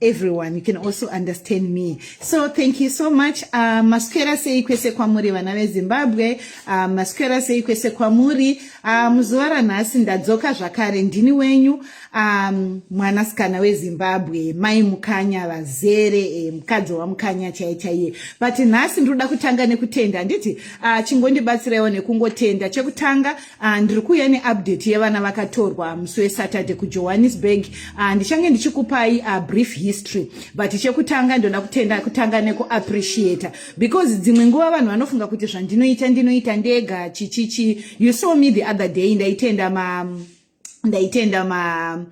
everyone you can also understand me so thank you so much uh, maswera sei kwese kwamuri vana vezimbabwe uh, maswera sei kwese kwamuri uh, muzuva ranhasi ndadzoka zvakare ndini wenyu um, mwanasikana wezimbabwe mai mukanya vazere eh, mukadzi wamukanya chaiye chaiye but nhasi ndinoda kutanga nekutenda handiti uh, chingondibatsiraiwo nekungotenda chekutanga Ah, ndiri kuuya neupdate yevana vakatorwa musi wesaturday kujohannesburg ah, ndichange ndichikupai ah, brief history but chekutanga ndinoda kutenda kutanga nekuappreciata because dzimwe nguva vanhu vanofunga kuti zvandinoita ndinoita ndega chichichi you saw me the other day ndaitenda ma ndaitenda ma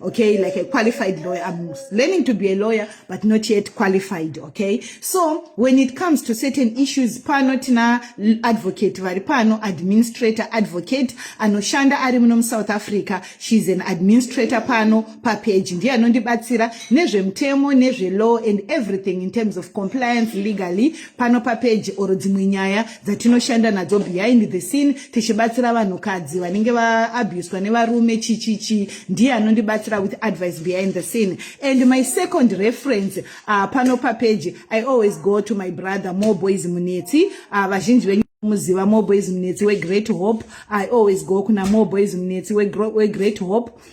okay like a qualified lawyer i'm learning to be a lawyer but not yet qualified okay so when it comes to certain issues pano tina advocate vari pano administrator advocate anoshanda ari muno musouth africa she's an administrator pano papeji ndiye anondibatsira nezvemutemo nezvelaw and everything in terms of compliance legally pano papeji or dzimwe nyaya dzatinoshanda nadzo behind the scene tichibatsira vanhukadzi vanenge vaabuswa nevarume chichichi ndiye anondibatsira with advice behind the scene and my second reference uh, pano papeji i always go to my brother more boys munetsi uh, vazhinji venyu muziva more boys munetsi wegreat hope i always go kuna more boys munetsi wegreat hope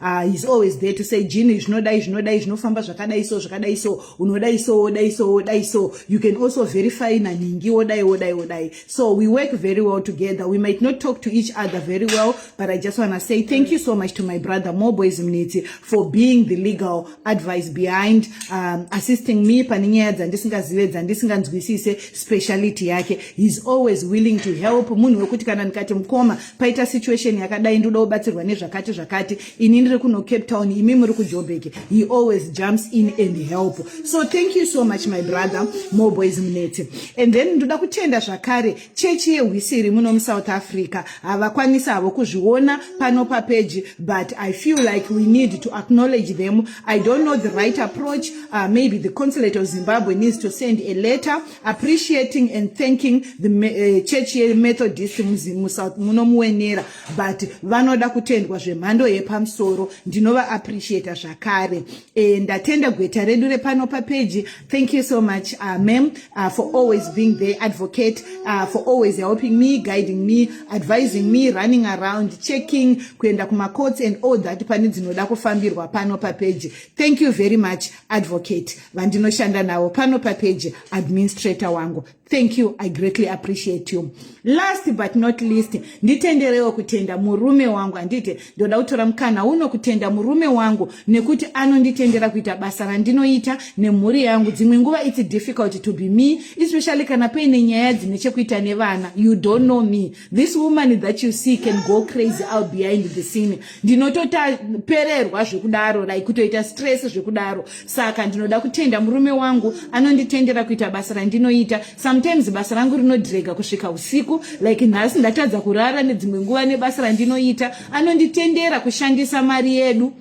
uh, he's always there to say jini zvinodai zvinodai zvinofamba zvakadai so zvakadai so unodai so wodai so wodai so you can also verify nanhingi wodai wodai wodai so we work very well together we might not talk to each other very well but i just want to say thank you so much to my brother moboys mniti for being the legal advice behind um, assisting me pane nyaya dzandisingazive dzandisinganzwisise speciality yake he's always willing to help munhu wekuti kana ndikati mukoma paita situation yakadai ndoda kubatsirwa nezvakati zvakati ini ndiri kuno cape town imi muri kujobek he always jumps in and help so thank you so much my brother more boys munetse and then ndoda kutenda zvakare chechi yehwisiri muno musouth africa havakwanisi havo kuzviona pano papeji but i feel like we need to acknowledge them i don't know the right approach uh, maybe the consulate of zimbabwe needs to send a letter appreciating and thanking the uh, church yemethodist musouth muno muwenera but vanoda kutendwa zvemhando yepamusoro ndinova appreciata zvakare e, ndatenda gweta redu repano papeji thank you so much uh, mam uh, for always being there advocate uh, for always helping me guiding me advising me running around checking kuenda kumacourts and all that pane dzinoda kufambirwa pano papeji thank you very much advocate vandinoshanda navo pano papeji administrator wangu thank you i greatly appreciate you last but not least nditenderewo kutenda murume wangu handiti ndoda kutora mukana uno kutenda murume wangu nekuti anonditendera kuita basa randinoita nemhuri yangu dzimwe nguva its difficult to be me especially kana paine nyaya dzine chekuita nevana you don't know me this woman that you see can go crazy out behind the scene ndinotopererwa zvekudaro like kutoita stress zvekudaro saka ndinoda kutenda murume wangu anonditendera kuita basa randinoita sometimes basa rangu rinodrega kusvika usiku like nhasi ndatadza kurara nedzimwe nguva nebasa randinoita anonditendera kushandisa mari yedu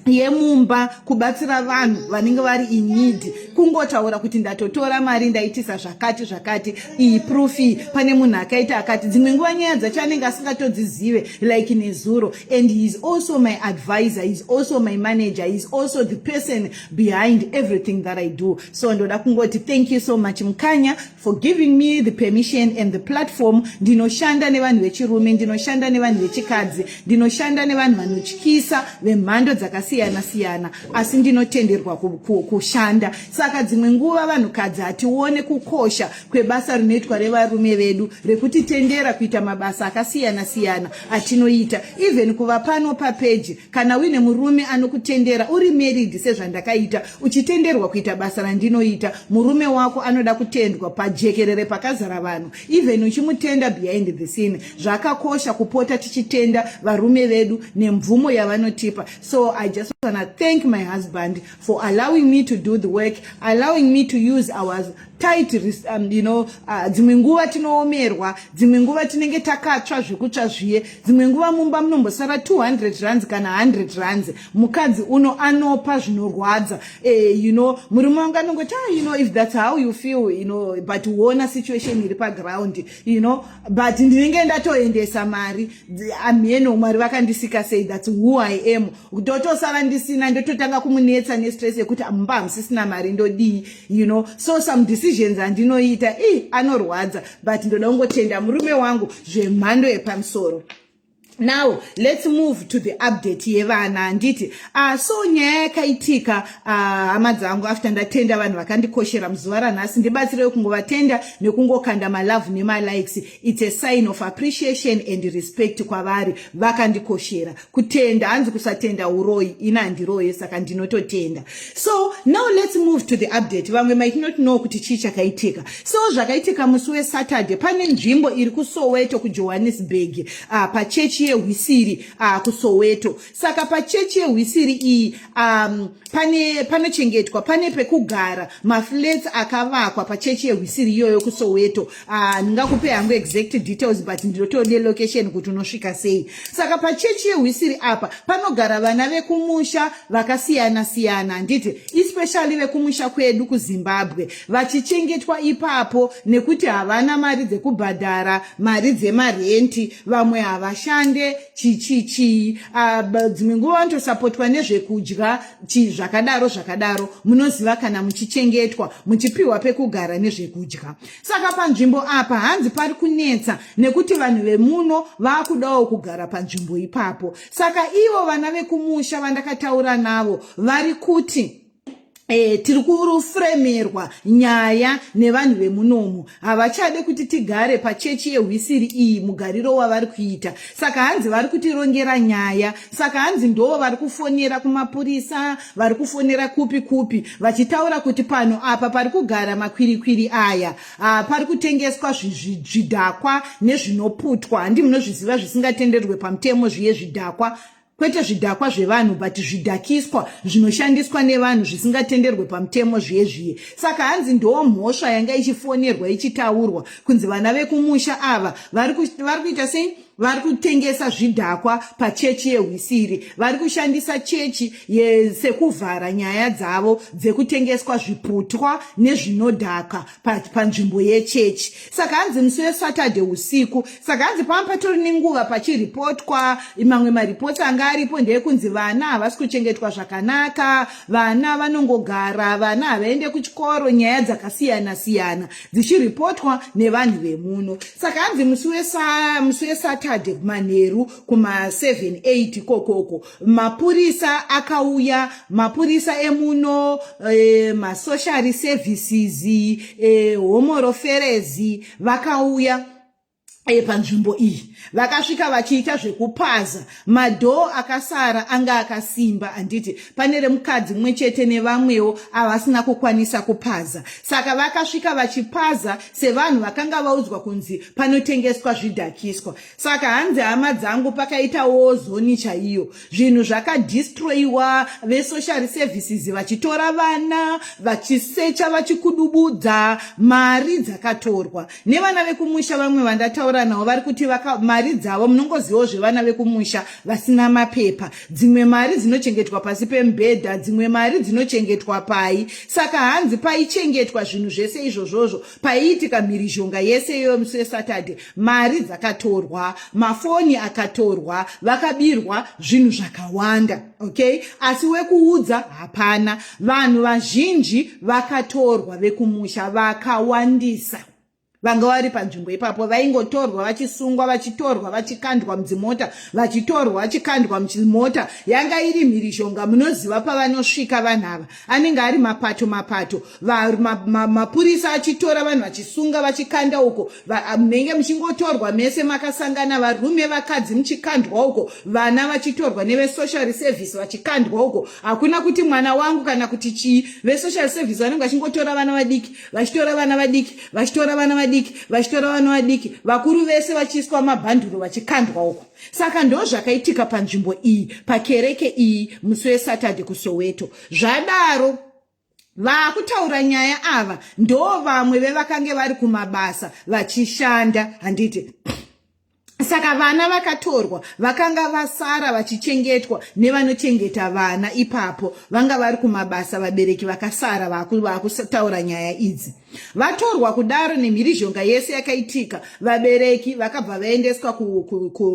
yemumba kubatsira vanhu vanenge vari inidi kungotaura kuti ndatotora mari ndaitisa zvakati zvakati iyi proof iyi pane munhu akaita akati dzimwe nguva nyaya dzacho anenge asingatodzizive like nezuro and he is also my advisor he is also my manager he is also the person behind everything that i do so ndoda kungoti thank you so much mukanya for giving me the permission and the platform ndinoshanda nevanhu vechirume ndinoshanda nevanhu vechikadzi ndinoshanda nevanhu vanotyisa vemhando dzakasiyana siyana asi ndinotenderwa kushanda Saka dzimwe nguva vanhukadzi hatione kukosha kwebasa rinoitwa revarume vedu rekutitendera kuita mabasa akasiyana siyana atinoita even kuva pano papeji kana uine murume anokutendera uri married sezvandakaita uchitenderwa kuita basa randinoita murume wako anoda kutendwa pajekerere pakazara vanhu even uchimutenda behind the scene zvakakosha kupota tichitenda varume vedu nemvumo yavanotipa so i just wanna thank my husband for allowing me to do the work allowing me to use our tight um, you know uh, dzimwe nguva tinoomerwa dzimwe nguva tinenge takatsva zvekutsva zviye dzimwe nguva mumba munombosara 200 rands kana 100 rands mukadzi uno anopa zvinorwadza eh, you know murume wangu anongoti ah, you know if that's how you feel you know but uona situation iri paground you know but ndinenge ndatoendesa mari amheno ah, mwari vakandisika sei thats who i am ndotosara ndisina ndototanga kumunetsa nestress yekuti amumba ah, hamusisina mari ndodii you know so some decisions andinoita i anorwadza but ndoda kungotenda murume wangu zvemhando yepamusoro now let's move to the update yevana handiti uh, ah, so nyaya yakaitika ah, hama uh, dzangu after ndatenda vanhu vakandikoshera muzuva ranhasi ndibatsirei kungovatenda nekungokanda malove nemalikes its a sign of appreciation and respect kwavari vakandikoshera kutenda hanzi kusatenda uroyi ina handiroye saka ndinototenda so now let's move to the update vamwe might not know kuti chii chakaitika so zvakaitika musi wesaturday pane nzvimbo iri kusoweto kujohannesburg uh, ah, pachechi yehwisiri uh, kusoweto saka pachechi yehwisiri iyi um, pane panochengetwa pane pekugara maflats akavakwa pachechi yehwisiri iyoyo kusoweto Ah, ndingakupe hangu exact details but ndinotiwo nelocation kuti unosvika sei saka pachechi yehwisiri apa panogara vana vekumusha vakasiyana siyana handiti especially vekumusha kwedu kuzimbabwe vachichengetwa ipapo nekuti havana mari dzekubhadhara mari dzemarenti vamwe havashande chichichii ah, dzimwe nguva vanotosapotwa nezvekudya chii zvakadaro zvakadaro munoziva kana muchichengetwa muchipiwa pekugara nezvekudya saka panzvimbo apa hanzi pari kunetsa nekuti vanhu vemuno vakudawo kugara panzvimbo ipapo saka ivo vana vekumusha vandakataura navo vari kuti E, tiri kurufremerwa nyaya nevanhu vemunomu havachade kuti tigare pachechi yehwisiri iyi mugariro wavari kuita saka hanzi vari kutirongera nyaya saka hanzi ndoo vari kufonera kumapurisa vari kufonera kupi kupi vachitaura kuti pano apa pari kugara makwirikwiri aya ah, pari kutengeswa zvidhakwa nezvinoputwa handi munozviziva zvisingatenderwe pamutemo zviye zvidhakwa kwete zvidhakwa zvevanhu but zvidhakiswa zvinoshandiswa nevanhu zvisingatenderwe pamutemo zviye zviye saka hanzi ndoo mhosva yanga ichifonerwa ichitaurwa kunzi vana vekumusha ava vari kuita sei vari kutengesa zvidhakwa pachechi yehwisiri vari kushandisa chechi sekuvhara nyaya dzavo dzekutengeswa zviputwa nezvinodhaka panzvimbo yechechi saka hanzi musi wesaturday usiku saka hanzi pava patori nenguva pachiripotwa mamwe maripoti anga aripo ndeekunzi vana havasi kuchengetwa zvakanaka vana vanongogara vana havaende kuchikoro nyaya dzakasiyana siyana dzichiripotwa nevanhu vemuno saka hanzi musi wesaturday manheru kuma7 8 kokoko mapurisa akauya mapurisa emuno e, masocial services e, homoroferezi vakauya panzvimbo iyi vakasvika vachiita zvekupaza madhoo akasara anga akasimba handiti pane remukadzi mumwe chete nevamwewo avasina kukwanisa kupaza saka vakasvika vachipaza sevanhu vakanga vaudzwa kunzi panotengeswa zvidhakiswa saka hanzi hama dzangu pakaitawo zoni chaiyo zvinhu zvakadistroyiwa vesocial services vachitora vana vachisecha vachikudubudza mari dzakatorwa nevana vekumusha vamwe vandataura navo vari kuti mari dzavo munongozivawo zvevana vekumusha vasina mapepa dzimwe mari dzinochengetwa pasi pemubhedha dzimwe mari dzinochengetwa pai saka hanzi paichengetwa zvinhu zvese izvozvozvo paiitika mhirizhonga yese iyoyo musi wesaturday mari dzakatorwa mafoni akatorwa vakabirwa zvinhu zvakawanda okay asi wekuudza hapana vanhu vazhinji vakatorwa vekumusha vakawandisa vanga vari panzvimbo ipapo vaingotorwa vachisungwa vachitorwa vachikandwa mudzimota vachitorwa vachikandwa muchimota yanga iri mhirizhonga munoziva pavanosvika vanhu ava anenge ari mapato mapato mapurisa ma, ma achitora vanhu vachisunga vachikanda uko ah, munenge muchingotorwa mese makasangana varume vakadzi muchikandwa uko vana vachitorwa nevesocial service vachikandwa uko hakuna kuti mwana wangu kana kuti chii vesocial service vanenge vachingotora vana vadiki vachitora vana vadiki vachitora vana vadiki vachitora vana vadiki vakuru vese vachiiswa mabhanduro vachikandwa uko saka ndo zvakaitika panzvimbo iyi pakereke iyi musi wesatadhe kusoweto zvadaro Vakutaura nyaya ava ndo vamwe vevakange vari kumabasa vachishanda handiti saka vana vakatorwa vakanga vasara vachichengetwa nevanochengeta vana ipapo vanga vari kumabasa vabereki vakasara vakutaura nyaya idzi vatorwa kudaro nemhirizhonga yese yakaitika vabereki vakabva vaendeswa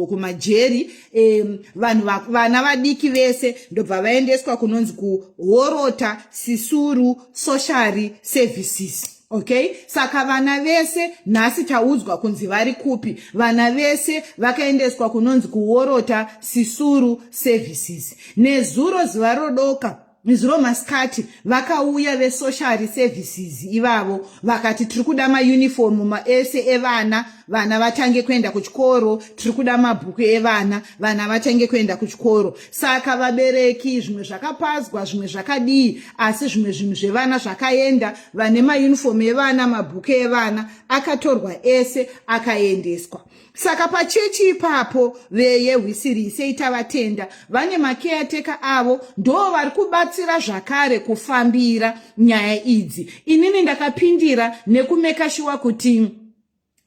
kumajeri ku, ku, um, vanhu va, vana vadiki vese ndobva vaendeswa kunonzi kuhorota sisuru sociary services okay saka vana vese nhasi taudzwa kunzi vari kupi vana vese vakaendeswa kunonzi kuhorota sisuru services nezuro zuva rodoka Nezuro masikati vakauya vesocial services ivavo vakati tiri kuda maunifomu maese evana vana vatange kuenda kuchikoro tiri kuda mabhuku evana vana vatange kuenda kuchikoro saka vabereki zvimwe zvakapadzwa zvimwe zvakadii asi zvimwe zvinhu zvevana zvakaenda vane maunifomu evana mabhuku evana akatorwa ese akaendeswa saka pachechi ipapo veye hwisiri sei tavatenda vane makeyateka avo ndoo vari kubatsira zvakare kufambira nyaya idzi inini ndakapindira nekumekashiwa kuti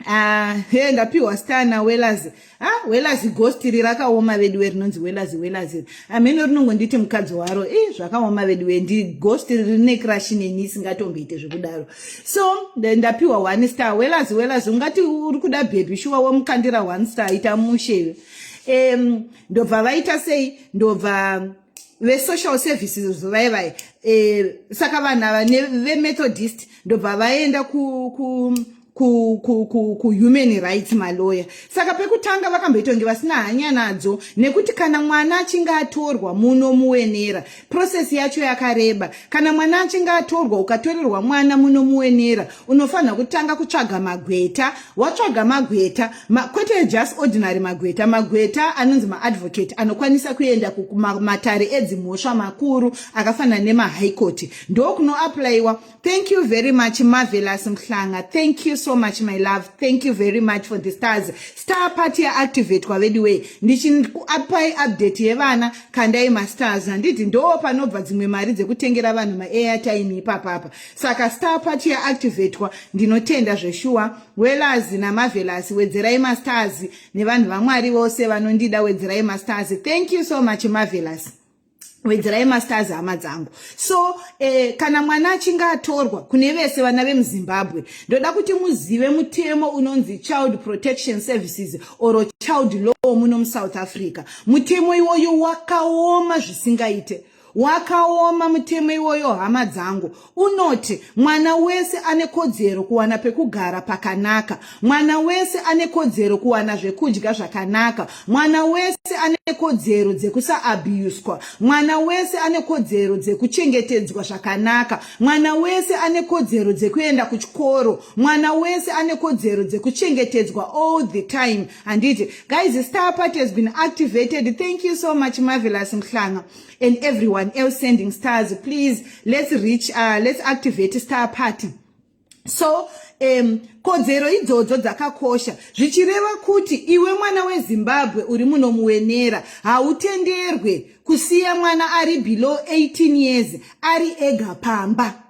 Ah, he ndapiwa stana welazi ah, welazi ghosti ri rakaoma veduwe rinonzi welazi welazi amheno rinongonditi mukadzi waro i zvakaoma veduwe ndi ghosti rine crash neni isingatomboite zvekudaro so ndapiwa one star welazi welazi ungati uri kuda bhebhi shuwa womukandira one star ita mushe um ndobva vaita sei ndobva vesocial services vaye vaye um saka vanhu ava vemethodist ndobva vaenda ku, ku kuhuman rights maloya saka pekutanga vakamboitonge vasina hanya nadzo nekuti kana mwana achinge atorwa munomuwenera process yacho yakareba kana mwana achinge atorwa ukatorerwa mwana munomuwenera unofanira kutanga kutsvaga magweta watsvaga magweta ma, kwete just ordinary magweta magweta anonzi maadvocate anokwanisa kuenda kumatare edzimhosva makuru akafanana nemahigh court ndokunoaplayiwa Thank you very much Marvelous Mhlanga. Thank you so much my love. Thank you very much for the stars. Star party ya activate kwa vedu way. Ndichi apai update yevana kandai ma stars. Handiti ndo panobva dzimwe mari dzekutengera vanhu ma airtime ipapa apa. Saka star party ya activate kwa ndinotenda zveshuwa. Wellers na Marvelous wedzerai ma stars nevanhu vamwari vose vanondida wedzerai ma stars. Thank you so much Marvelous. wedzerai masters hama dzangu so eh, kana mwana achinge atorwa kune vese vana vemuzimbabwe ndoda kuti muzive mutemo unonzi child protection services or child law muno musouth africa mutemo iwoyo wakaoma zvisingaite wakaoma mutemo iwoyo hama dzangu unoti mwana wese ane kodzero kuwana pekugara pakanaka mwana wese ane kodzero kuwana zvekudya zvakanaka mwana wese ane kodzero dzekusaabuswa mwana wese ane kodzero dzekuchengetedzwa zvakanaka mwana wese ane kodzero dzekuenda kuchikoro mwana wese ane kodzero dzekuchengetedzwa all the time handiti guys star party has been activated thank you so much marvelous mhlanga and everyone else sending stars please let's reach uh, let's activate star party so um, kodzero idzodzo dzakakosha zvichireva kuti iwe mwana wezimbabwe uri muno muwenera hautenderwe kusiya mwana ari below 18 years ari ega pamba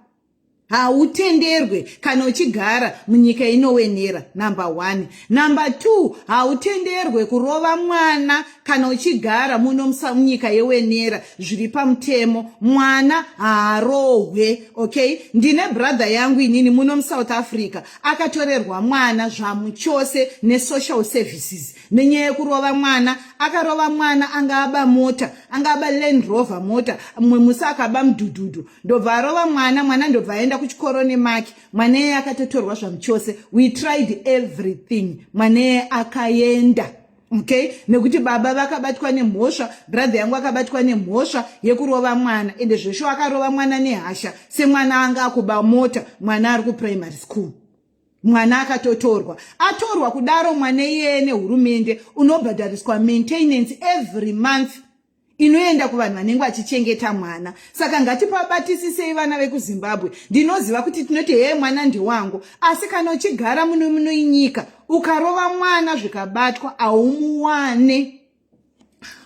hautenderwe kana uchigara munyika inowenera number one number two hautenderwe kurova mwana kana uchigara muno munyika yewenera zviri pamutemo mwana haarohwe okay ndine brother yangu inini muno musouth africa akatorerwa mwana zvamuchose nesocial services nenyaya yekurova mwana akarova mwana anga aba mota anga aba land rover mota mumwe musi akaba mudhudhudhu ndobva arova mwana mwana ndobva aenda kuchikoro nemaki mwana eye akatotorwa zvamuchose we tried everything mwana eye akaenda okay nekuti baba vakabatwa nemhosva brother yangu akabatwa nemhosva yekurova mwana ende zvesho akarova mwana nehasha semwana anga akuba mota mwana ari kuprimary school mwana akatotorwa atorwa kudaro mwana iyeye nehurumende unobhadhariswa maintenance every month inoenda kuvanhu vanenge vachichengeta mwana saka ngatipabatisisei vana vekuzimbabwe ndinoziva kuti tinoti hee mwana ndewangu asi kana uchigara muno muno inyika ukarova mwana zvikabatwa haumuwane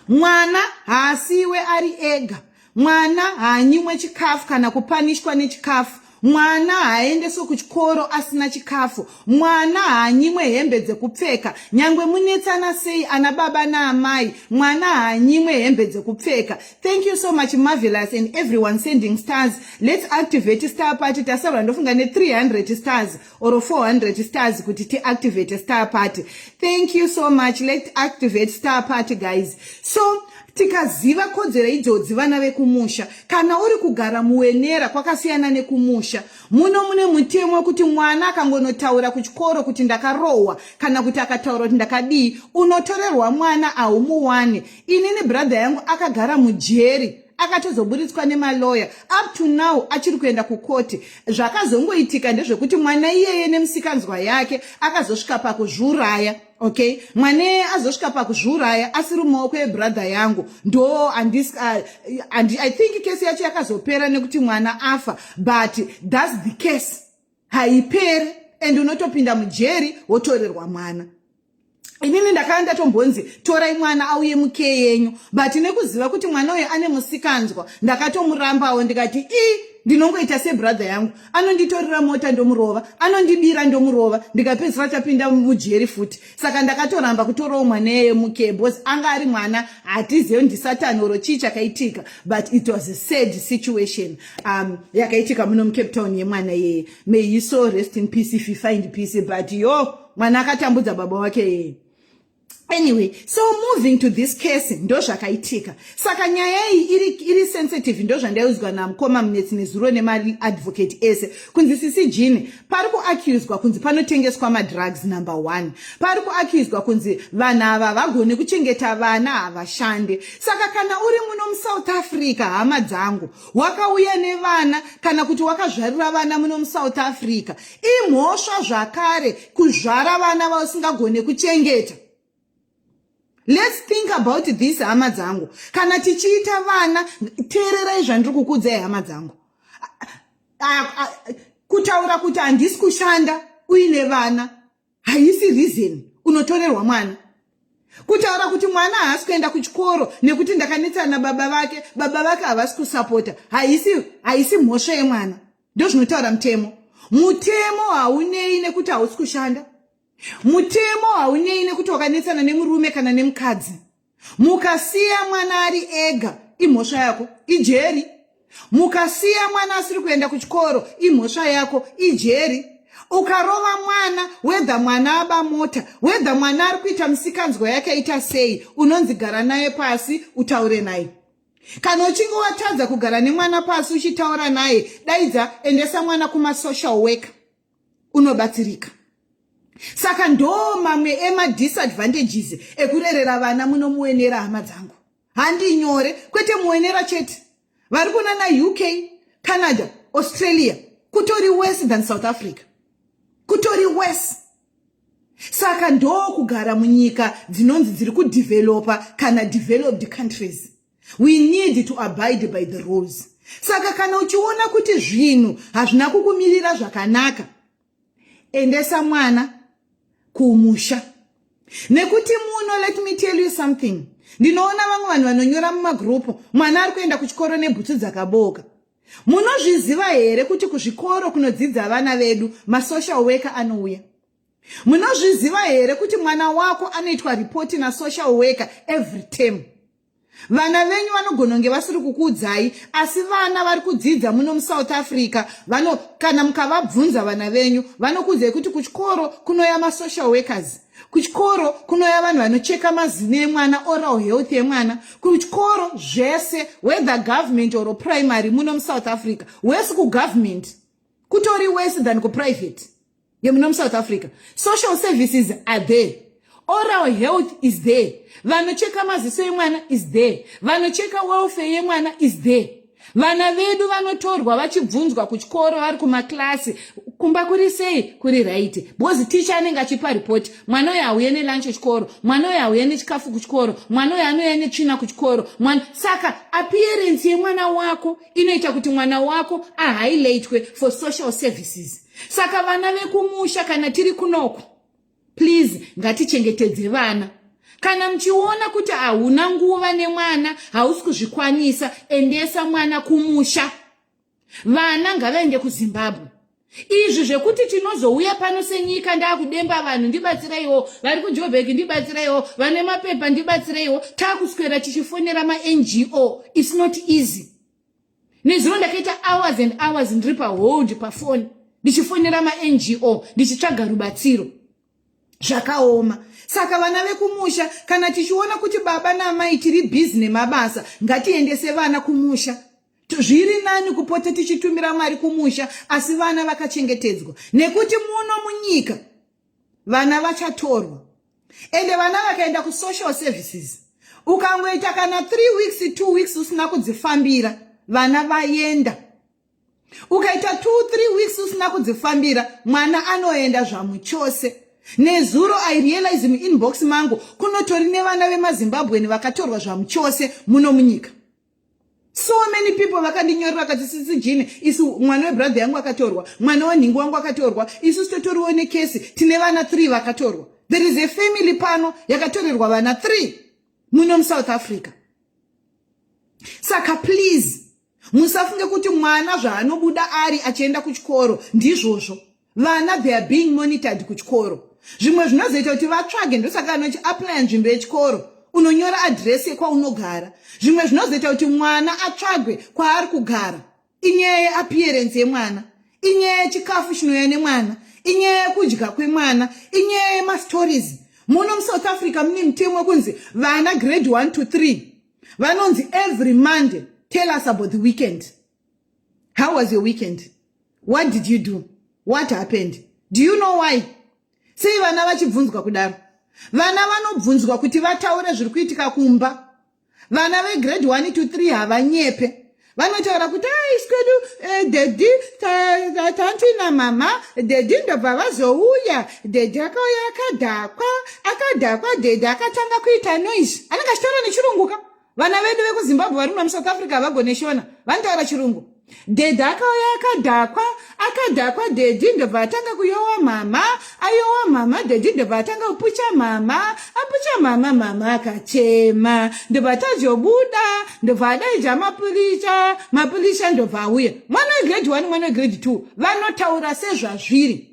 mwana haasiwe ari ega mwana haanyimwe chikafu kana kupanishwa nechikafu mwana haaendeswe kuchikoro asina chikafu mwana haanyimwe hembe dzekupfeka nyangwe munetsana sei ana baba naamai mwana haanyimwe hembe dzekupfeka thank you so much marvelous and everyone sending stars lets activate star party tasarwa ndofunga ne300 stars or 400 stars kuti tiactivate star party thank you so much let activate star party guys so tikaziva kodzero idzodzi vana vekumusha kana uri kugara muwenera kwakasiyana nekumusha muno mune mutemo wekuti mwana akangonotaura kuchikoro kuti ndakarohwa kana kuti akataura kuti ndakadii unotorerwa mwana ahumuwani inini brother yangu akagara mujeri akatozoburitswa nemaloya up to now achiri kuenda kukoti zvakazongoitika ndezvekuti mwana iyeye nemusikanzwa yake akazosvika pakuzviuraya okay mwana iyeye azosvika pakuzviuraya asiri mumaoko ebrother yangu ndo uh, i think kesi yacho yakazopera nekuti mwana afa but thats the case haiperi and unotopinda mujeri wotorerwa mwana inini ndakanga ndatombonzi torai mwana auye muke yenyu but nekuziva kuti mwana uyo ane musikanzwa ndakatomurambawo ndikati i ndinongoita sebrother yangu anonditorera mota ndomurova anondibira ndomurova ndikapedzisira tapinda mujeri futi saka ndakatoramba kutorawo mwana eye muke bcause anga ari mwana hatizive ndisatani oro chii chakaitika but it was a sad situation um, yakaitika muno mucape town yemwana yeye may he so rest in peace if he find peace but yo mwana akatambudza baba wake yeye anyway so moving to this case ndozvakaitika saka nyaya iyi iri, iri sensitive ndozvandaiudzwa namukoma munetsi nezuro nemaadvocate ese kunzi sisi jini pari kuaccuswa kunzi panotengeswa madrugs number one pari kuaccuswa kunzi vanhu ava havagone kuchengeta vana havashande saka kana uri muno musouth africa hama dzangu wakauya nevana kana kuti wakazvarira vana muno musouth africa imhosva zvakare kuzvara vana vausingagone kuchengeta let's think about this hama dzangu kana tichiita vana teererai zvandiri kukudzai hama dzangu kutaura kuti handisi kushanda uine vana haisi reason unotorerwa mwana kutaura kuti mwana haasi kuenda kuchikoro nekuti ndakanetsana nababa vake baba vake havasi kusapota haisi haisi mhosva yemwana ndozvinotaura mutemo mutemo haunei nekuti hausi kushanda Mutemo haunei nekuti wakanetsana nemurume kana nemukadzi. Mukasiya mwana ari ega imhosva yako ijeri. Mukasiya mwana asiri kuenda kuchikoro imhosva yako ijeri. Ukarova mwana wedha mwana aba mota wedha mwana ari kuita misikanzwa yake aita sei unonzi gara naye pasi utaure naye. Kana uchinge watadza kugara nemwana pasi uchitaura naye daidza endesa mwana kumasocial worker. unobatsirika saka ndo mamwe emadisadvantages ekurerera vana munomuenera hama dzangu handi nyore kwete muenera chete vari kuna na uk canada australia kutori worse than south africa kutori worse saka ndokugara munyika dzinonzi dziri kudevelopa kana developed countries we need to abide by the rules saka kana uchiona kuti zvinhu hazvina kukumirira zvakanaka endesa mwana kumusha nekuti muno let me tell you something ndinoona vamwe vanhu vanonyora mumagrupu mwana ari kuenda kuchikoro nebhutsu dzakabooka munozviziva here kuti kuzvikoro kunodzidza vana vedu masocial worker anouya munozviziva here kuti mwana wako anoitwa ripoti nasocial worker every term vana venyu vanogona kunge vasiri kukuudzai asi vana vari kudzidza muno musouth africa vano kana mukavabvunza vana venyu vanokuudzai kuti kuchikoro kunoya masocial workers kuchikoro kunoya vanhu vanocheka mazino emwana oral health yemwana kuchikoro zvese whether government or primary muno musouth africa wesi kugovernment kutori wesi than kuprivate yemuna musouth africa social services are there oral health is there vanocheka maziso emwana is there vanocheka welfare yemwana is there vana vedu vanotorwa vachibvunzwa kuchikoro vari kumakilasi kumba kuri sei kuri raiti because ticha anenge achipa ripoti mwana uyo auye nelunch kuchikoro mwana uyo auye nechikafu kuchikoro mwana uyo anouya netsvina kuchikoro mwana saka appearance yemwana wako inoita kuti mwana wako ahighlightwe for social services saka vana vekumusha kana tiri kunoku please ngatichengetedze vana kana muchiona kuti hauna nguva nemwana hausi kuzvikwanisa endesa mwana kumusha vana ngavaende kuzimbabwe izvi zvekuti tinozouya pano senyika ndaakudemba vanhu ndibatsireiwo vari kujobheki ndibatsireiwo vane mapepa ndibatsireiwo taakuswera tichifonera mango its not easy nezuro ndakaita hours and hours ndiri pahold pafoni ndichifonera mango ndichitsvaga rubatsiro zvakaoma saka vana vekumusha kana tichiona kuti baba naamai tiri bhizi nemabasa ngatiendese vana kumusha zviri nani kupota tichitumira mari kumusha asi vana vakachengetedzwa nekuti muno munyika vana vachatorwa ende vana vakaenda kusocial services ukangoita kana three weeks two weeks usina kudzifambira vana vaenda ukaita two three weeks usina kudzifambira mwana anoenda zvamuchose nezuro i realize muinbox mangu kunotori nevana vemazimbabweni vakatorwa zvamuchose muno munyika so many people vakandinyorera vakati sisi jini isu mwana webrother yangu akatorwa mwana wenhingi wangu akatorwa isu sitotoriwo nekesi tine vana three vakatorwa there is a family pano yakatorerwa vana three muno musouth africa saka please musafunge kuti mwana zvaanobuda ari achienda kuchikoro ndizvozvo vana they are being monitored kuchikoro zvimwe zvinozoita kuti vatsvage ndosaka anochi aplya nzvimbo yechikoro unonyora adhiresi yekwaunogara zvimwe zvinozoita kuti mwana atsvagwe kwaari kugara inyaya yeappearance yemwana inyaya yechikafu chinouya nemwana inyaya yekudya kwemwana inyaya yemastories muno musouth africa mune mutemo wekunzi vana grade 1 to 3 vanonzi every monday tell us about the weekend How was your weekend? What did you do? What happened? Do you know why? Sei vana vachibvunzwa kudaro? Vana vanobvunzwa kuti vataure zviri kuitika kumba. Vana vegrade 1 to 3 havanyepe. Vanotaura kuti aiskedu ah, eh, daddy tanti namama daddy ndobva vazouya daddy akauya akadhakwa akadhakwa daddy akatanga kuita noise anenge achitaura nechirunguka vana vedu vekuzimbabwe vari muno musouth africa havagone shona vanotaura chirungu dhedhi akauya akadhakwa akadhakwa dhedhi ndobva atanga kuyowa mama ayowa mama dhedhi ndobva atanga kupucha mama apucha mama mama akachema ndobva atazobuda ndobva adaidza mapurisha mapurisha ndobva auya mwana wegrade one mwana wegrade two vanotaura sezvazviri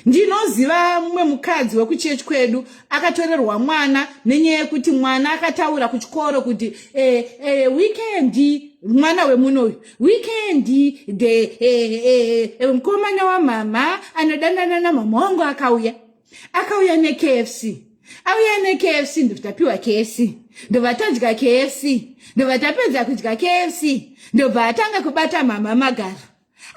ndinoziva mumwe mukadzi wekuchechi kwedu akatorerwa mwana nenyaya yekuti mwana akataura kuchikoro kuti eh, eh, weekendi mwana wemuno uyu weekendi the eh, eh, eh, mukomana wamama anodanana namama wangu akauya akauya nekfc auya nekfc ndotapiwa kfc ndobva tadya kfc ndobva tapedza kudya kfc ndobva atanga kubata mama magaro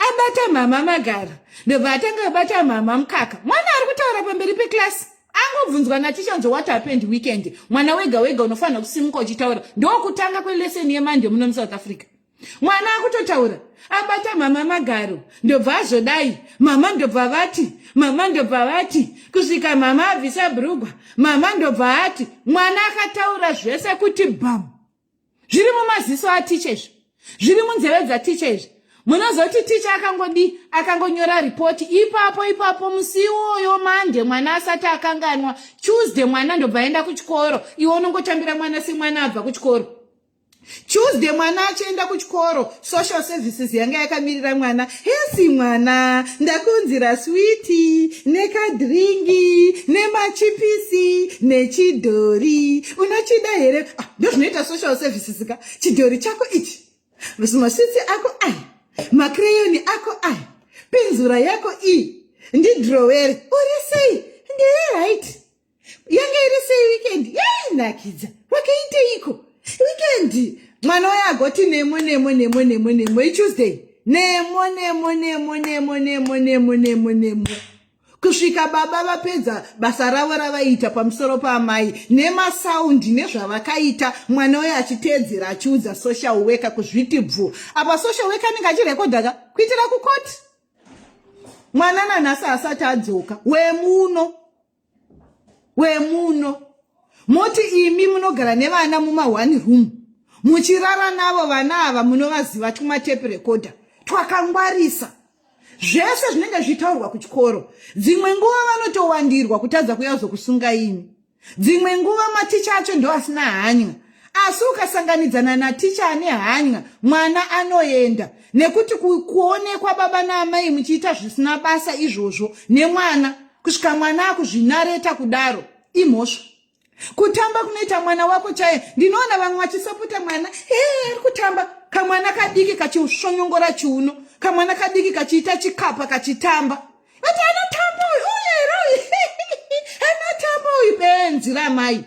abata mhama magaro ndobva atanga abata mhama mukaka mwana ari kutaura pamberi peklasi angobvunzwa naticha nzo what happened weekend mwana wega wega unofanira kusimuka uchitaura ndokutanga kweleseni yemande muno musouth africa mwana akutotaura abata mhama magaro ndobva azodai mhama ndobva vati mhama ndobva vati kusvika mhama abvisa brugwa mhama ndobva ati mwana akataura zvese kuti bhamu zviri mumaziso aticha izvi zviri munzeve dzaticha izvi munozoti ticha akangodii akangonyora ripoti ipapo ipapo musi iwoyo mande mwana asati akanganwa tuesday mwana ndobva aenda kuchikoro iwe unongotambira mwana semwana abva kuchikoro tuesday mwana achienda kuchikoro social services yanga yakamirira mwana Hesi mwana ndakunzira switi nekadhiringi nemachipisi nechidhori unochida here ah, ndozvinoita social services ka chidhori chako ichi maswitsi ako ai makreyoni ako ai penzura yako iyi ndidhirowere uri sei ndiri right yanga iri sei weekend yainakidza wakaiteiko weekend mwana uya agoti nemo nemo nemo nemo nemo ichuesday nemo nemo nemo nemo nemo nemo nemo nemo kusvika baba vapedza basa ravo ravaiita pamusoro paamai nemasaundi nezvavakaita mwana uyo achiteedzera achiudza social worker kuzviti bvu apa social worker anenge achirekodhaka kuitira kukoti mwana nanhasi asati adzoka wemuno wemuno moti imi munogara nevana muma one room muchirara navo vana ava munovaziva twumatepi rekodha twakangwarisa zvese zvinenge zvichitaurwa kuchikoro dzimwe nguva vanotowandirwa kutadza kuyazokusunga imi dzimwe nguva maticha acho ndoasina hanya asi ukasanganidzana naticha ane hanya mwana anoenda nekuti kuonekwa baba naamai muchiita zvisina basa izvozvo nemwana kusvika mwana akuzvinareta kudaro imhosva kutamba kunoita mwana wako chaiye ndinoona vamwe vachisapota mwana ee ari kutamba kamwana kadiki kachisvonyongora chiuno kamwana kadiki kachiita chikapa kachitamba Ati anotamba uyu uyu here uyu anotamba uyu benzi ramai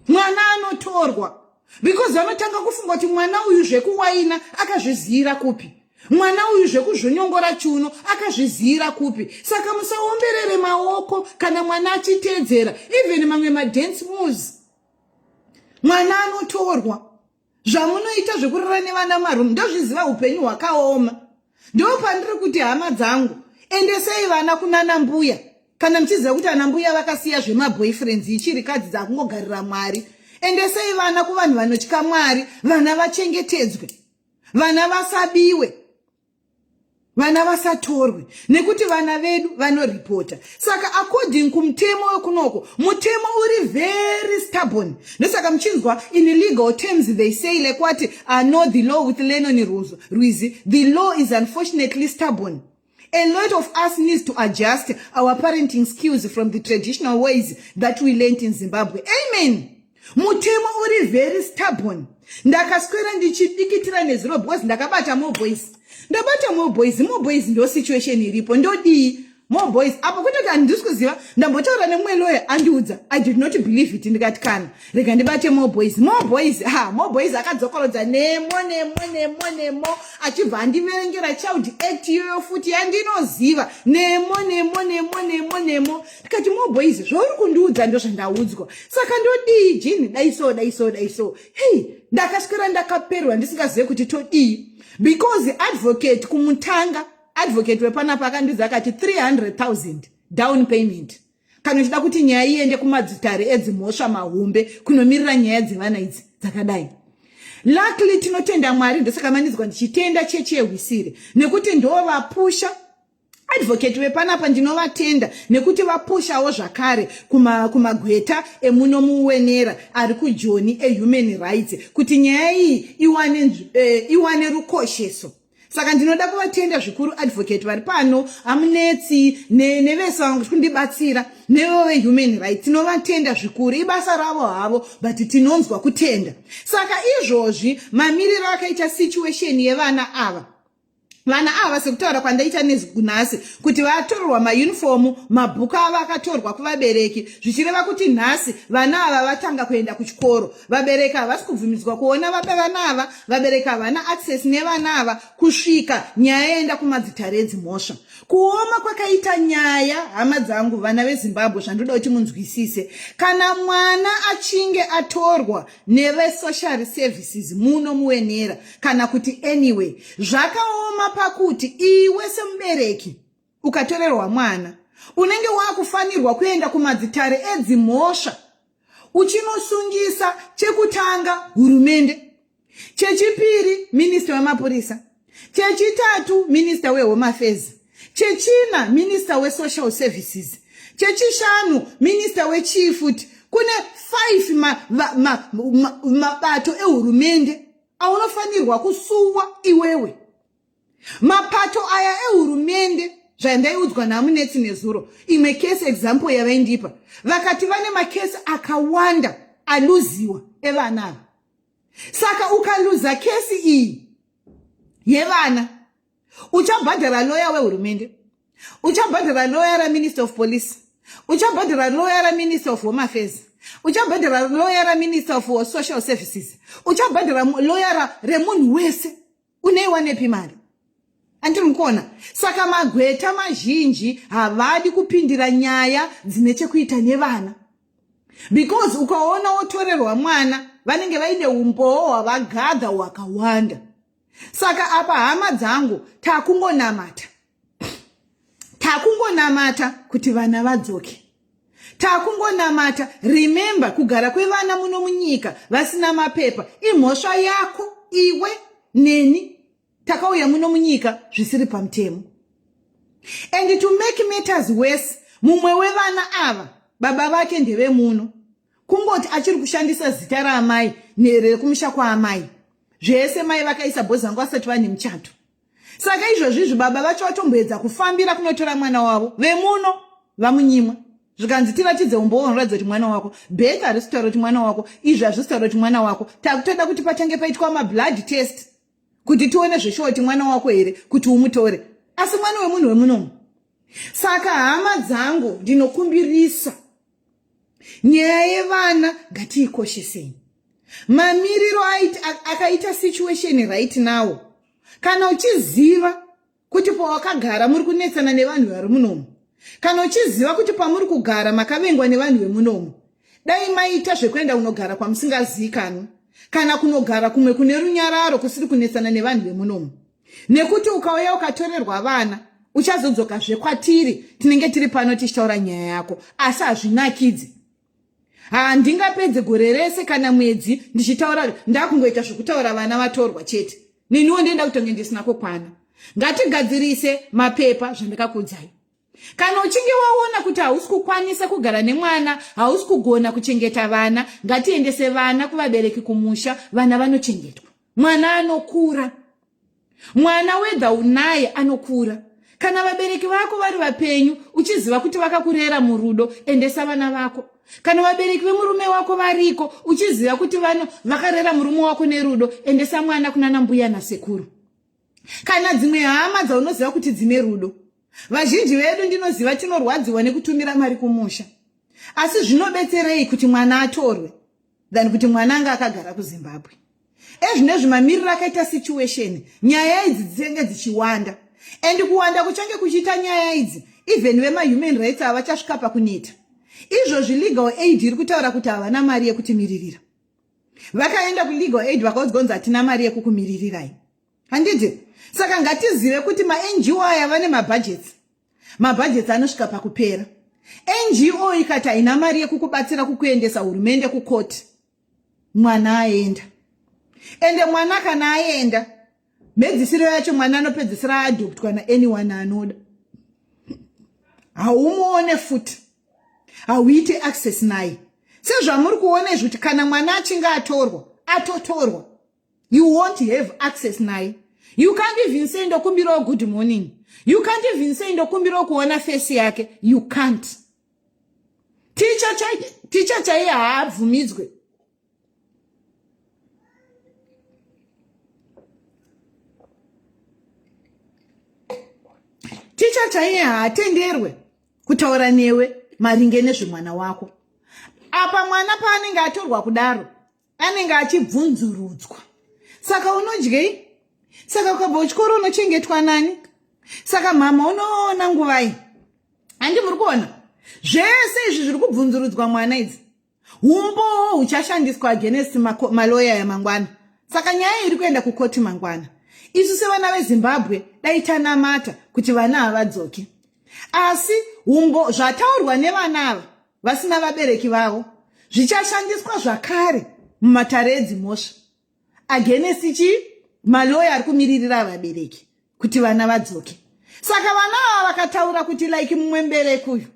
mwana anotorwa because vanotanga kufunga kuti mwana uyu zvekuwaina akazviziyira kupi mwana uyu zvekuzvonyongora chiuno akazviziyira kupi saka musaomberere maoko kana mwana achiteedzera even mamwe madance moves mwana anotorwa zvamunoita zvekurara nevana marum ndozviziva upenyu hwakaoma ndo pandiri kuti hama dzangu endesei vana kunana mbuya kana muchiziva kuti ana mbuya vakasiya zvemaboyfriends ichiri kadzi dzakungogarira mwari endesei vana kuvanhu vanotya mwari vana vachengetedzwe vana vasabiwe vana vasatorwe nekuti vana vedu vanoripota saka according kumutemo wekunoko mutemo uri very stubborn ndosaka muchinzwa in legal terms they say like wati ah, no the law with lenoni ruzo rwizi the law is unfortunately stubborn a lot of us needs to adjust our parenting skills from the traditional ways that we learnt in zimbabwe amen Mutemo uri very stubborn. Ndakaswera ndichidikitira nezuro because ndakabata more boys. Ndabata more boys, more boys ndo situation iripo. Ndodii? More boys. Apo kutoti handisi kuziva ndambotaura nemumwe lawyer andiudza. I did not believe it ndikati kana rega ndibate more boys. More boys. Ha, more boys akadzokorodza nemo nemo nemo nemo achibva andiverengera child act iyoyo futi yandinoziva. Nemo nemo nemo nemo nemo. ndikati more boys zvauri kundiudza ndozvandaudzwa saka ndodii jini dai so dai so dai so hei ndakaswera ndakaperwa ndisingazive kuti todii because advocate kumutanga advocate wepanapa akandiudza akati 300 000 down payment kana uchida kuti nyaya iende kumadzitare edzimhosva mahombe kunomirira nyaya dzevana idzi dzakadai luckily tinotenda mwari ndosakamanidzwa ndichitenda chechi yehwisire nekuti ndovapusha advocate vepanapa ndinovatenda nekuti vapushawo zvakare kumagweta kuma emuno muwenera ari kujoni ehuman rights kuti nyaya iyi iwane, eh, iwane rukosheso saka ndinoda kuvatenda zvikuru advocate vari pano amunetsi nevese ne kundibatsira nevo vehuman right tinovatenda zvikuru ibasa ravo havo but tinonzwa kutenda saka izvozvi mamiriro akaita situation yevana ava vana ava sekutaura kwandaita nhasi kuti vatorerwa mayunifomu mabhuku avo akatorwa kuvabereki zvichireva kuti nhasi vana ava vatanga kuenda kuchikoro vabereki havasi kubvumidzwa kuona vapa vana ava vabereki havana access nevana ava kusvika nyaya yaenda kumadzitare edzimhosva kuoma kwakaita nyaya hama dzangu vana vezimbabwe zvandoda kuti munzwisise kana mwana achinge atorwa nevesocial services muno muwenera kana kuti anyway zvakaoma pakuti iwe semubereki ukatorerwa mwana unenge wakufanirwa kuenda kumadzitare edzimhosva uchinosungisa chekutanga hurumende chechipiri minista wemapurisa chechitatu minista wehome affairs chechina minista wesocial services chechishanu minista wechii futi kune five mabato ehurumende aunofanirwa kusuwa iwewe mapato aya ehurumende zvandaiudzwa namunetsi nezuro imwe case example yavaindipa vakati vane makesi akawanda aluziwa evana ava saka ukaluza kesi iyi yevana uchabhadhara loya wehurumende uchabhadhara loya raminister of police uchabhadhara loya raminister of home affairs uchabhadhara loya raminister of social services uchabhadhara loya remunhu wese uneiwanepi mari andiri mukuona saka magweta mazhinji havadi kupindira nyaya dzine chekuita nevana because ukaona wotorerwa mwana vanenge vaine umbowo hwavagadha hwakawanda saka apa hama dzangu takungonamata takungonamata kuti vana vadzoke takungonamata remembe kugara kwevana muno munyika vasina mapepa imhosva yako iwe neni takauya muno munyika zvisiri pamutemo and to make matters worse mumwe wevana ava baba vake ndevemuno kungoti achiri kushandisa zita raamai nherere kumusha kwaamai zvese mai vakaisa bhozangu asati vane muchato saka izvozvi izvi baba vacho vatomboedza kufambira kunotora mwana wavo vemuno vamunyimwa zvikanzi tiratidze umbowo unoratidza kuti mwana wako beth harisi kutaura kuti mwana wako izvi hazvisi kutaura kuti mwana wako takutoda kuti patange paitwa mablood test kuti tione zveshuwa kuti mwana wako here kuti umutore asi mwana wemunhu wemunomu saka hama dzangu ndinokumbirisa nyaya yevana ngatiikoshesei mamiriro akaita situation right now kana uchiziva kuti pawakagara muri kunetsana nevanhu vari munomu kana uchiziva kuti pamuri kugara makavengwa nevanhu vemunomu dai maita zvekuenda kunogara kwamusingaziikanwi kana kunogara kumwe kune runyararo kusiri kunetsana nevanhu vemunomu nekuti ukauya ukatorerwa vana uchazodzoka zvekwatiri tinenge tiri pano tichitaura nyaya yako asi hazvinakidzi handingapedze gore rese kana mwedzi ndichitaura ndakungoita zvekutaura vana vatorwa chete neniwo ndienda kutonge ndisina kukwana ngatigadzirise mapepa zvandakakuudzai kana uchinge waona kuti hausi kukwanisa kugara nemwana hausi kugona kuchengeta vana ngatiendese vana kuvabereki kumusha vana vanochengetwa mwana anokura mwana wedha unaye anokura kana vabereki vako vari vapenyu uchiziva kuti vakakurera murudo endesa vana vako kana vabereki vemurume wako variko uchiziva kuti vano vakarera murume wako nerudo endesa mwana kunana mbuya nasekuru kana dzimwe hama dzaunoziva kuti dzine rudo vazhinji vedu ndinoziva tinorwadziwa nekutumira mari kumusha asi zvinobetserei kuti mwana atorwe than kuti mwana anga akagara kuzimbabwe ezvinezvi mamiriro akaita situation nyaya idzi dzitenge dzichiwanda and kuwanda kuchange kuchiita nyaya idzi even vemahuman rights havachasvika pakuneta izvozvi legal aid iri kutaura kuti havana mari yekutimiririra vakaenda kulegal aid vakaudzwa kunzi hatina mari yekukumiririrai handiti saka ngatizive kuti mango aya vane mabhajeti mabhajeti anosvika pakupera ngo ikati haina mari yekukubatsira kukuendesa hurumende kukoti mwana aenda ende mwana kana aenda mhedzisiro yacho mwana anopedzisira adoptwa naanyone anoda haumuone futi hauite access naye sezvamuri kuona izvi kuti kana mwana achinge atorwa atotorwa you won't have access naye you can't even say ndokumbirawo good morning you can't even say ndokumbirawo kuona fesi yake you can't ticha chaiye haabvumidzwe ticha chaiye haatenderwe kutaura newe maringe nezvemwana wako apa mwana paanenge atorwa kudaro anenge achibvunzurudzwa saka unodyei saka ukabva uchikoro unochengetwa nani saka mhamha unoona nguvai handi muri kuona zvese izvi zviri kubvunzurudzwa mwana idzi umbowo huchashandiswa against maloya yamangwana saka nyaya iri kuenda kukoti mangwana isu sevana vezimbabwe dai tanamata kuti vana havadzoki asi umbo zvataurwa nevana ava vasina vabereki vavo zvichashandiswa zvakare mumatare edzimhosva agenesi chii maloya ari kumiririra vabereki kuti vana vadzoke saka vana ava vakataura kuti like mumwe mbereki uyu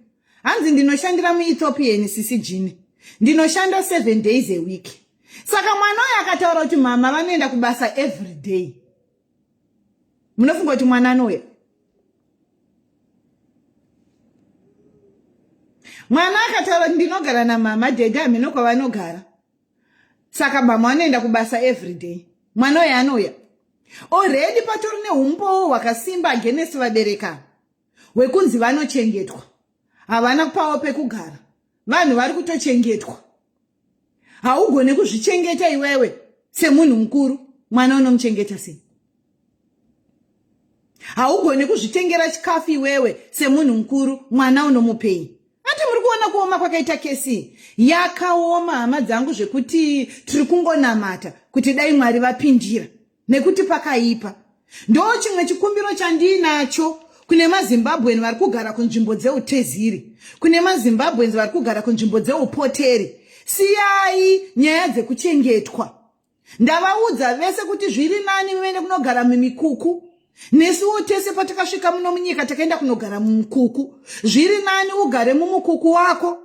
hanzi ndinoshandira muethiopian sisi jini ndinoshanda seven days a week saka mwana uyo akataura kuti mama vanoenda kubasa every day munofunga kuti mwana anouya mwana akataura kuti ndinogara namama dede hameno kwavanogara saka mhamha anoenda kubasa everyday mwana uyo anouya oredi patori neumbowo hwakasimba agenesi vabereka hwekunzi vanochengetwa havana kupawo pekugara vanhu vari kutochengetwa haugone kuzvichengeta iwewe semunhu mukuru mwana unomuchengeta sei haugoni kuzvitengera chikafu iwewe semunhu mukuru mwana unomupei ati muri kuona kuoma kwakaita kesi yakaoma hama dzangu zvekuti tiri kungonamata kuti dai mwari vapindira nekuti pakaipa ndo chimwe chikumbiro chandiinacho kune mazimbabwen vari kugara kunzvimbo dzeuteziri kune mazimbabwens vari kugara kunzvimbo dzeupoteri siyai nyaya dzekuchengetwa ndavaudza vese kuti zviri nani vene kunogara mumikuku nesuwo tese patakasvika muno munyika takaenda kunogara mumukuku zviri nani ugare mumukuku wako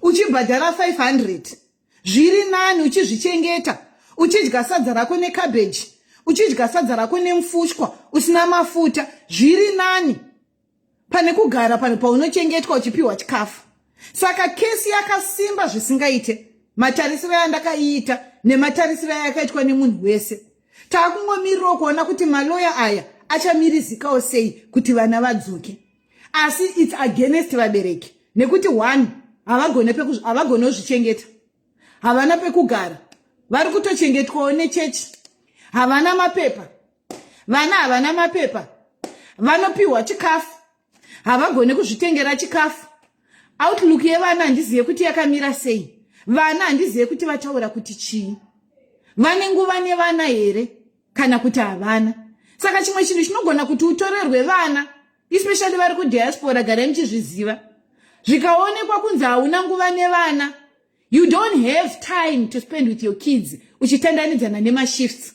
uchibhadhara 500 zviri nani uchizvichengeta uchidya sadza rako necabeji uchidya sadza rako nemufushwa usina mafuta zviri nani pane kugara pane paunochengetwa uchipiwa chikafu saka kesi yakasimba zvisingaite matarisiro yandakaiita nematarisiro ayakaitwa nemunhu wese taakungomirirawo kuona kuti maloya aya achamirizikawo sei kuti vana vadzoke asi its against vabereki nekuti one havagone kuzvichengeta havana pekugara vari kutochengetwawo nechechi havana mapepa vana havana mapepa vanopiwa chikafu havagone kuzvitengera chikafu outlook yevana handizive kuti yakamira sei vana handizive kuti vataura kuti chii vane nguva nevana here kana kuti havana saka chimwe chinhu chinogona kuti utorerwe vana especially vari kudiaspora garai muchizviziva zvikaonekwa kunzi hauna nguva nevana you don't have time to spend with your kids uchitandanidzana nemashifts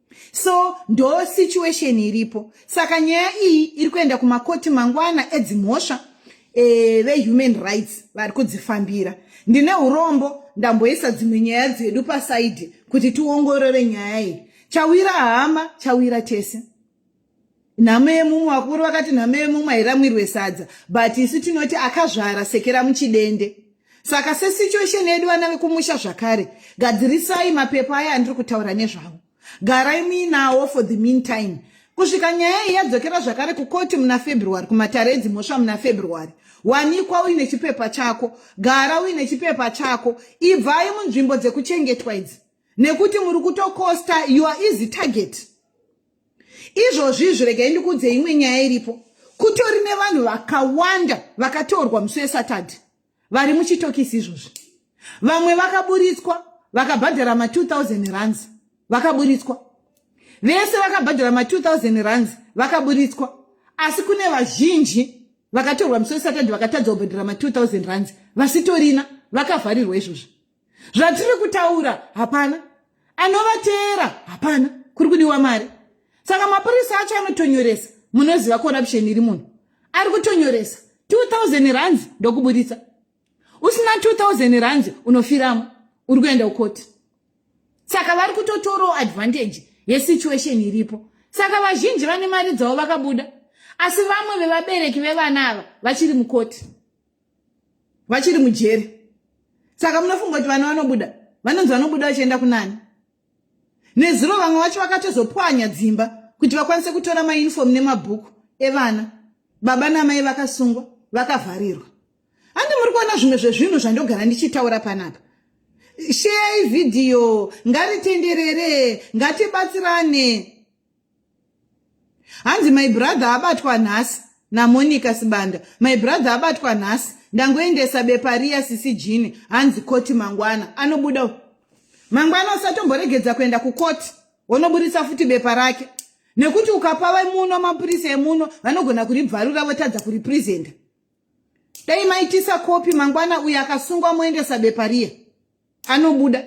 so ndo situation iripo saka nyaya iyi iri kuenda kumakoti mangwana edzimhosva e, eh, vehuman rights vari kudzifambira ndine urombo ndamboisa dzimwe nyaya dzedu pasaidi kuti tiongorore nyaya iyi chawira hama chawira tese nhamo yemumwe vakuru vakati nhamo yemumwe hairamwirwe sadza but isu tinoti akazvara sekera muchidende saka sesituation yedu vana vekumusha zvakare gadzirisai mapepa aya andiri kutaura nezvavo garai muinawo for the meantime kusvika nyaya iyi yadzokera zvakare kukoti muna february kumatare edzimhosva muna february wanikwa uine chipepa chako gara uine chipepa chako ibvai munzvimbo dzekuchengetwa idzi nekuti muri kutokosta your easy target izvozvi izvi regai ndikuudze imwe nyaya iripo kutori nevanhu vakawanda vakatorwa musi wesatadhi vari muchitokisi izvozvi vamwe vakaburitswa vakabhadhara ma2000 runs vakaburitswa vese vakabhadhara ma2000 runs vakaburitswa asi kune vazhinji vakatorwa musi wesatadhi vakatadza kubhadhara ma2000 runs vasitorina vakavharirwa izvozvi zvatiri kutaura hapana anovateera hapana kuri kudiwa mari saka mapurisa acho anotonyoresa munoziva corruption iri munhu ari kutonyoresa 2000 rands ndokuburitsa usina 2000 rands unofiramo uri kuenda kukoti saka vari kutotorawo advantage yesituation iripo saka vazhinji vane mari dzavo vakabuda asi vamwe vevabereki vevana ava vachiri mukoti vachiri mujeri saka munofunga kuti vana vanobuda vanonzi vanobuda vachienda kunani nezuro vamwe vacho vakatozopwanya dzimba kuti vakwanise kutora maunifomu nemabhuku evana baba namai vakasungwa vakavharirwa handi muri kuona zvimwe zvezvinhu zvandogara ndichitaura panapa sheyai vhidhiyo ngaritenderere ngatibatsirane hanzi my brother abatwa nhasi namonica sibanda my brother abatwa nhasi ndangoendesa bepa riya sisi jini hanzi koti mangwana anobuda mangwana usatomboregedza kuenda kukoti wonoburitsa futi bepa rake nekuti ukapa vemuno mapurisa emuno vanogona kuribvarura votadza kuripresenta dai maitisa kopi mangwana uyo akasungwa moendesa bepa riya anobuda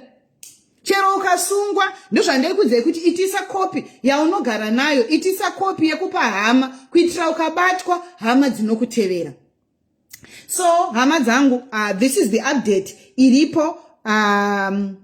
chero ukasungwa ndozvandaikudzai kuti itisa kopi yaunogara nayo itisa kopi yekupa hama kuitira ukabatwa hama dzinokutevera so hama dzangu uh, this is the update iripo um,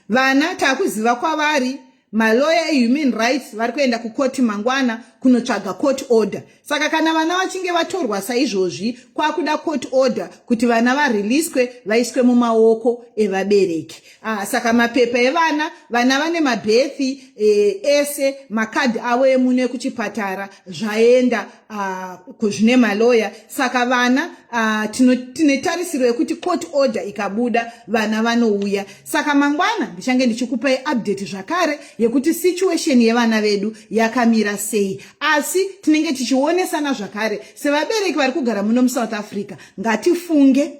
vana takuziva kwavari maloya ehuman rights vari kuenda kukoti mangwana kunotsvaga court order saka kana vana vachinge vatorwa saizvozvi kwakuda court order kuti vana vareleaswe vaiswe mumaoko evabereki ah, saka mapepa evana vana vane mabhethi eh, ese makadhi avo emune kuchipatara zvaenda Ah, zvine maloya saka vana ah, tine tarisiro yekuti court order ikabuda vana vanouya saka mangwana ndichange ndichikupai update zvakare yekuti situation yevana vedu yakamira sei asi tinenge tichionesana zvakare sevabereki vari kugara muno musouth africa ngatifunge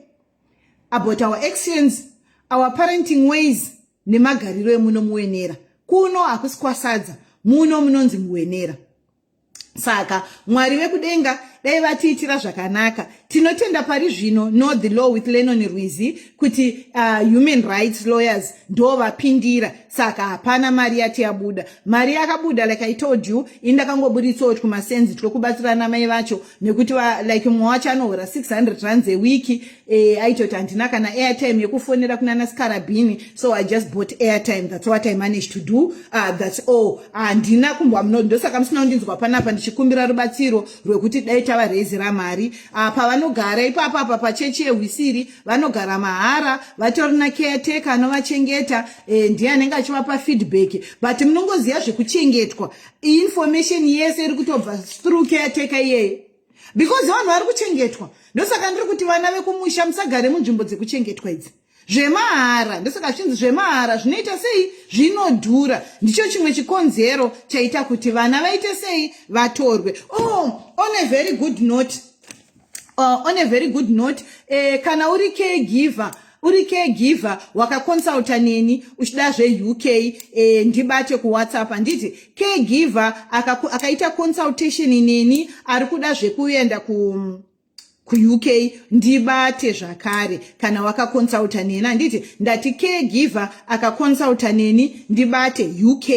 about our actions our parenting ways nemagariro emuno muwenera kuno hakusi kwasadza muno munonzi muwenera saka mwari vekudenga dai vatiitira zvakanaka tinotenda pari zvino no the law with lenon rwizi kuti uh, human rights lawyers ndo vapindira saka hapana mari yati yabuda mari yakabuda like i told you indakangoburitsawo twumasenzi twekubatsira namai vacho nekuti like mumwe wacho anohora 600 rands ewiki e, aitoti handina kana airtime yekufonera kunana scarabini so i just bought airtime thats what i managed to do uh, ah, thats all handina ah, kumbwa muno ndosaka musina kundinzwa panapa ndichikumbira rubatsiro rwekuti dai tava rezi ramari uh, pavanogara ipapo apa pachechi yehwisiri vanogara mahara vatori na caretaker anovachengeta e, ndiye anenge achivapa feedback but munongoziva zvekuchengetwa information yese iri kutobva through caretaker iyeyo because vanhu vari kuchengetwa ndosaka ndiri kuti vana vekumusha musagare munzvimbo dzekuchengetwa idzi zvemahara ndosaka zvichinzi zvemahara zvinoita sei zvinodhura ndicho chimwe chikonzero chaita kuti vana vaite sei vatorwe oh, on a very good note uh, on a very good note eh, kana uri caregiver uri caregiver wakaconsulta neni uchida zveuk eh, ndibate kuwhatsapp handiti caregiver akaita aka consultation neni ari kuda zvekuenda ku kuuk ndibate zvakare kana wakaconsulta neni handiti ndati caregiver akaconsulta neni ndibate uk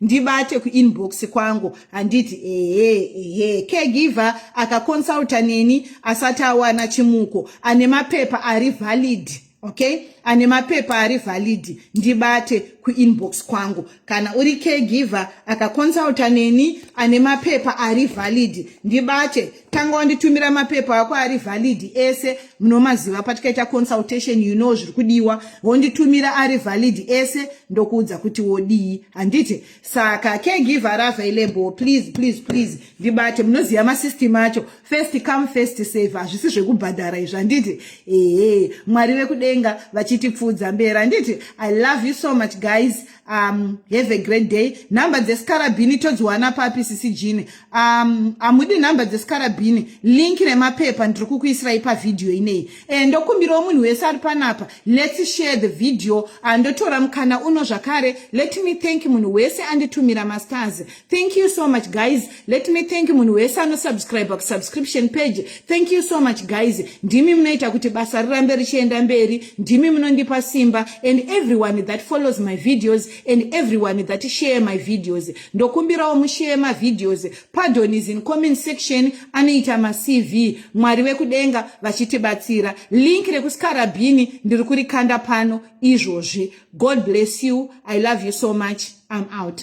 ndibate kuinbox kwangu handiti ehe ehe caregiver akaconsulta neni asati awana chimuko ane mapepa ari valid okay ane mapepa ari valid ndibate kuinbox kwangu kana uri caregiver akaconsulta neni ane mapepa ari valid ndibate tanga wanditumira mapepa ako ari valid ese munomaziva patikaita consultation you know zviri kudiwa wonditumira ari valid ese ndokuudza kuti wodii handiti saka caregiver ari available please please please ndibate munoziva masystem acho first come first save hazvisi zvekubhadhara izvi handiti ehe mwari vekudenga vachitipfuudza mberi handiti i love you so much guys um have a great day number dzesikarabhini todziwana papi sisi jini um hamudi number dzesikarabhini link remapepa ndiri kukuisirai pavhidhiyo ineyi e ndokumbirawo munhu wese ari panapa lets share the video andotora mukana uno zvakare let me thank munhu wese anditumira mastars Thank you so much guys. Let me thank you munhu wese anosubscribe kusubscription page. Thank you so much guys. Ndimi munoita kuti basa rirambe richienda mberi. Ndimi munondipa simba and everyone that follows my videos and everyone that share my videos. Ndokumbirawo mushare my videos. Pardon is in comment section anoita ma CV. Mwari vekudenga vachitibatsira. Link rekuskara bhini ndiri kurikanda pano izvozvi. God bless you. I love you so much. I'm out.